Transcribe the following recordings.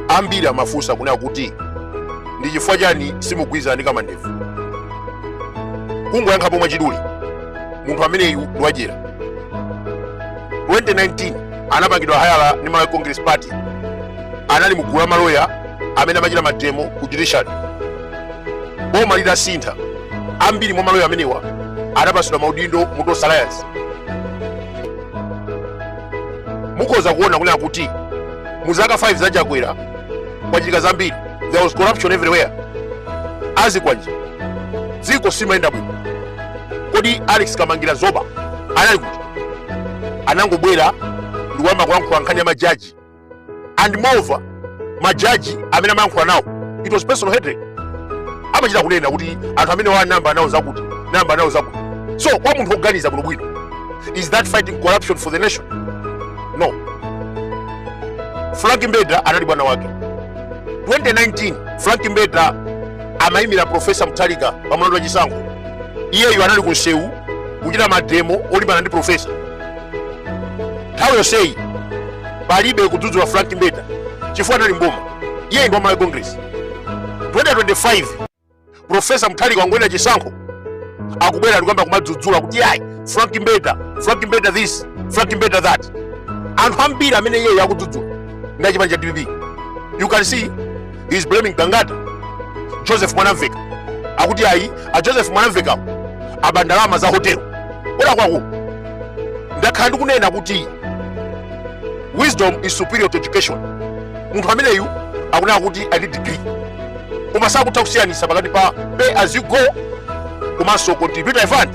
ambiri amafunsa kunena kuti ndi chifukwa chani simugwirizana ndi kamandevu kungoyankhapo mwachidule munthu ameneyu ndi wadyera 2019 anapangidwa hayala ndi malawi congress party anali mugulu la maloya amene amachita mademo ku judiciary boma litasintha ambiri mwa maloya amenewa anapatsidwa maudindo mu tonse alliance mukhoza kuona kunena kuti mu zaka 5 za chakwera kwachitika zambiri there was corruption everywhere azikwanje dziko silimayenda bwino kodi alex kamangila zoba anali kuti anangobwera ndikuyamba kulankhula nkhani ya majaji and moreover majaji amene amayankhula nawo it was personal hatred amachita kunena kuti anthu amene anayamba nawo zakuti anayamba nawo zakuti so kwa munthu woganiza bwino bwino is that fighting corruption for the nation no frank mbeta anali bwana wake 2019 frank mbeta amayimira profesa mutharika pa mlandu wa chisankho iyeyo anali ku nsewu kuchita mademo olimbana ndi profesa nthawi yonseyi palibe kudzudzula frank mbeta chifukwa anali mboma iye ndi wa malawi congress 2025 profesa mutharika wangowina chisankho akubwera ndikuyamba kumadzudzula kuti ayi frank mbeta frank mbeta this frank mbeta that anthu ambiri amene iyeyo akudzudzula ndi a chipani cha dpp you can see he is blaming gangata joseph mwanamveka akuti ayi a joseph mwanamveka aba ndalama za hotelo ona kwako ndakhala ndikunena kuti wisdom is superior to education munthu ameneyu akunena kuti ali ndi degree koma sakutha kusiyanitsa pakati pa pay as you go komanso contributory fund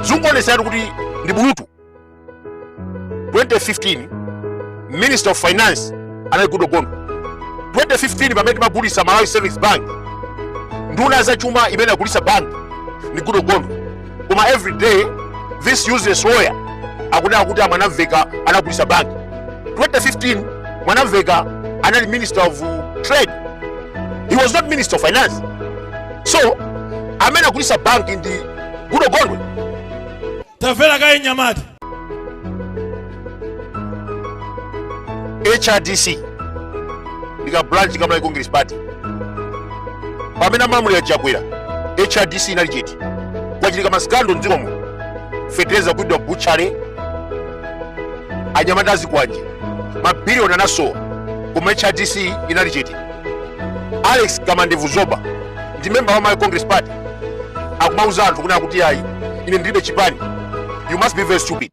zikuonetseratu kuti ndi bulutu 2015 minister of finance anali Goodall Gondwe 2015 pamene timagulitsa Malawi Savings Bank nduna ya zachuma imene inagulitsa bank ndi Goodall Gondwe koma every day this useless lawyer akunena kuti a mwanamveka anagulitsa bank 2015 mwanamveka anali minister of trade he was not minister of finance so amene anagulitsa bank ndi Goodall Gondwe tamvera kaye mnyamata hrdc ndi ka branch ka malawi congress party pamene amalamulira chakwera hrdc inali chete kwachitika masikando mdziko momo fetereza ku butchery anyamata azikwanje mabiliyoni anasowa koma hrdc inali chete alex kamandevu zoba ndi memba wa malawi congress party akumauza anthu kunena kuti ayi ine ndilibe chipani you must be very stupid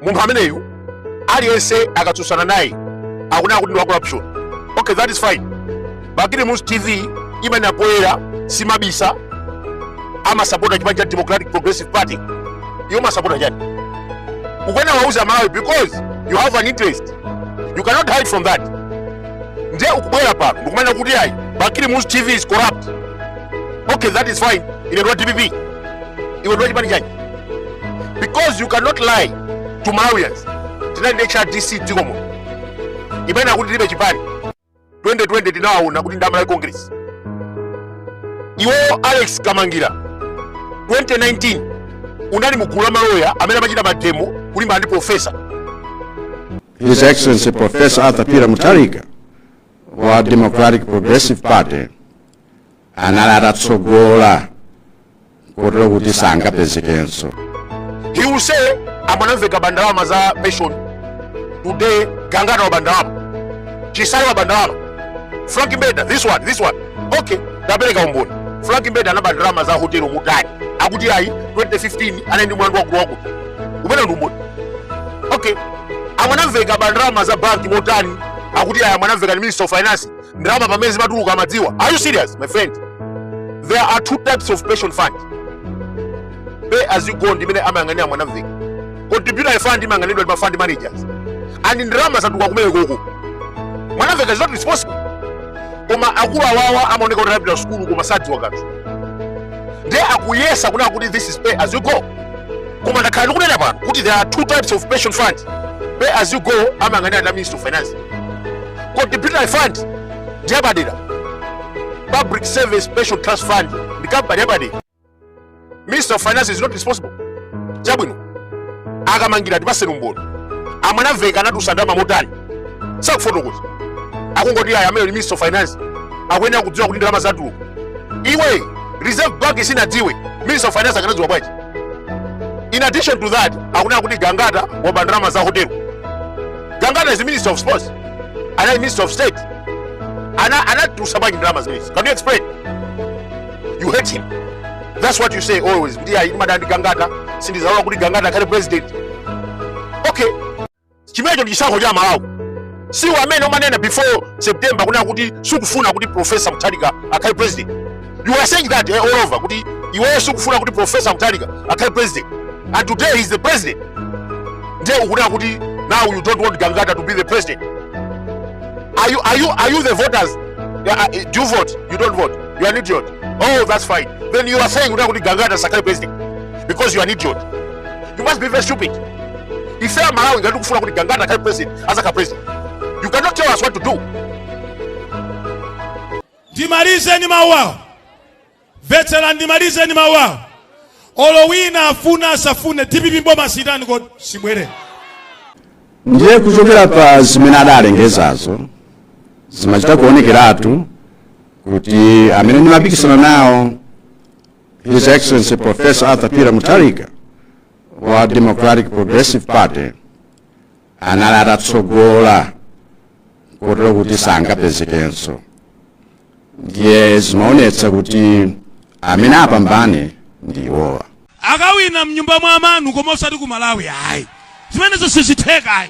munthu ameneyu aliyense akatsutsana naye akunena kuti ndi wa corruption okay that is fine bakili muluzi tv imene apoyera simabisa amasapota chipani cha democratic progressive party iwo masapota chani ukuyenera uwauze amalawi because you have an interest you cannot hide from that nde ukubwera pano ndikumanena kuti ayi bakili muluzi tv is corrupt okay that is fine ine ndiwa dpp iwe ndiwa chipani chanji because you cannot lie to malawians tinali ndi hrdc dziko muno imene akuti tilibe chipani 2020 tinawaona kuti ndi a malawi congress iwo alex kamangira 2019 unali mugulu la malawyer amene amachita mademo kulimbana ndi profesa His Excellency Professor Arthur Peter Mutharika wa Democratic Progressive Party anali atatsogola kotero kuti sangapezekenso He will say, a Mwanamveka aba ndalama za pension. Today, Gangata waba ndalama. Chisale waba ndalama. Frank Mbeta, this one, this one. Okay, apereka umboni. Frank Mbeta anaba ndalama za hotel motani. Akuti ayi, 2015 anali ndi mlandu wa kurogo. Umene ndi umboni. Okay, amwanamveka aba ndalama za banki motani akuti ayi mwanamveka ndi minister of finance ndalama pamene zimatuluka amadziwa are you serious my friend there are two types of pension fund pay as you go ndimene amayang'anira mwanamveka contributory fund imayang'aniridwa ndi ma fund managers and ndalama zatuluka kumenekoko mwanamveka is not responsible koma akulu awawa amaoneka kuti anapita sukulu koma sadziwa kanthu ndiye akuyesa kunena kuti this is pay as you go koma ndakhala ndikunena pano kuti there are two types of pension fund pay as you go amayang'anira ndi minister of finance contributory fund ndi yapadera public service pension trust fund ndi kampani yapadera minister of finance is not responsible chabwino akamangira tipaseni umboni amwanamveka anatulutsa ndalama motani sakufotokoza akungoti ayi amene ndi minister of finance akuyenera kudziwa kuti ndalama zatuluka iwe reserve bank sinadziwe minister of finance akanadziwa bwanji in addition to that akunena kuti gangata waba ndalama za hotelo gangata is minister of sports anali minister of state ana anatulutsa bwanji ndalama zimenezi can you explain you hate him that's what you say always kuti ayi ndimadana ndi gangata sindizalola kuti gangata akhale president okay chimenecho ndi chisankho cha Malawi siwo amene umanena before September kunena kuti sukufuna kuti Professor Mutharika akhale president you are saying that eh, all over kuti iweyo sukufuna kuti Professor Mutharika akhale president and today he is the president ndiye ukunena kuti now you don't want Gangata to be the president are you, are you, are you the voters Yeah, uh, do you vote you don't vote you are an idiot oh that's fine then you are saying kunena kuti Gangata asakhale president because you are an idiot You must be very stupid. Ife a Malawi ngati kufuna kuti Gangata akhale president, azakhala president. You cannot tell us what to do. ndimalize ndi mawu awo mvetsera ndimalize ndi mawu awo olo wina afuna asafune dpp mboma sitani kodi sibwere ndiye kuchokera pa zimene adalengezazo zimachita kuonekeratu kuti amene ndimapikisana nawo His Excellency Professor Arthur Peter Mutharika wa Democratic Progressive Party anali atatsogola kotero kuti sangapezekenso ndiye zimaonetsa kuti amene apambane ndi iwowa akawina mnyumba mwa amanu koma osati ku malawi ayi zimenezo sizitheka ayi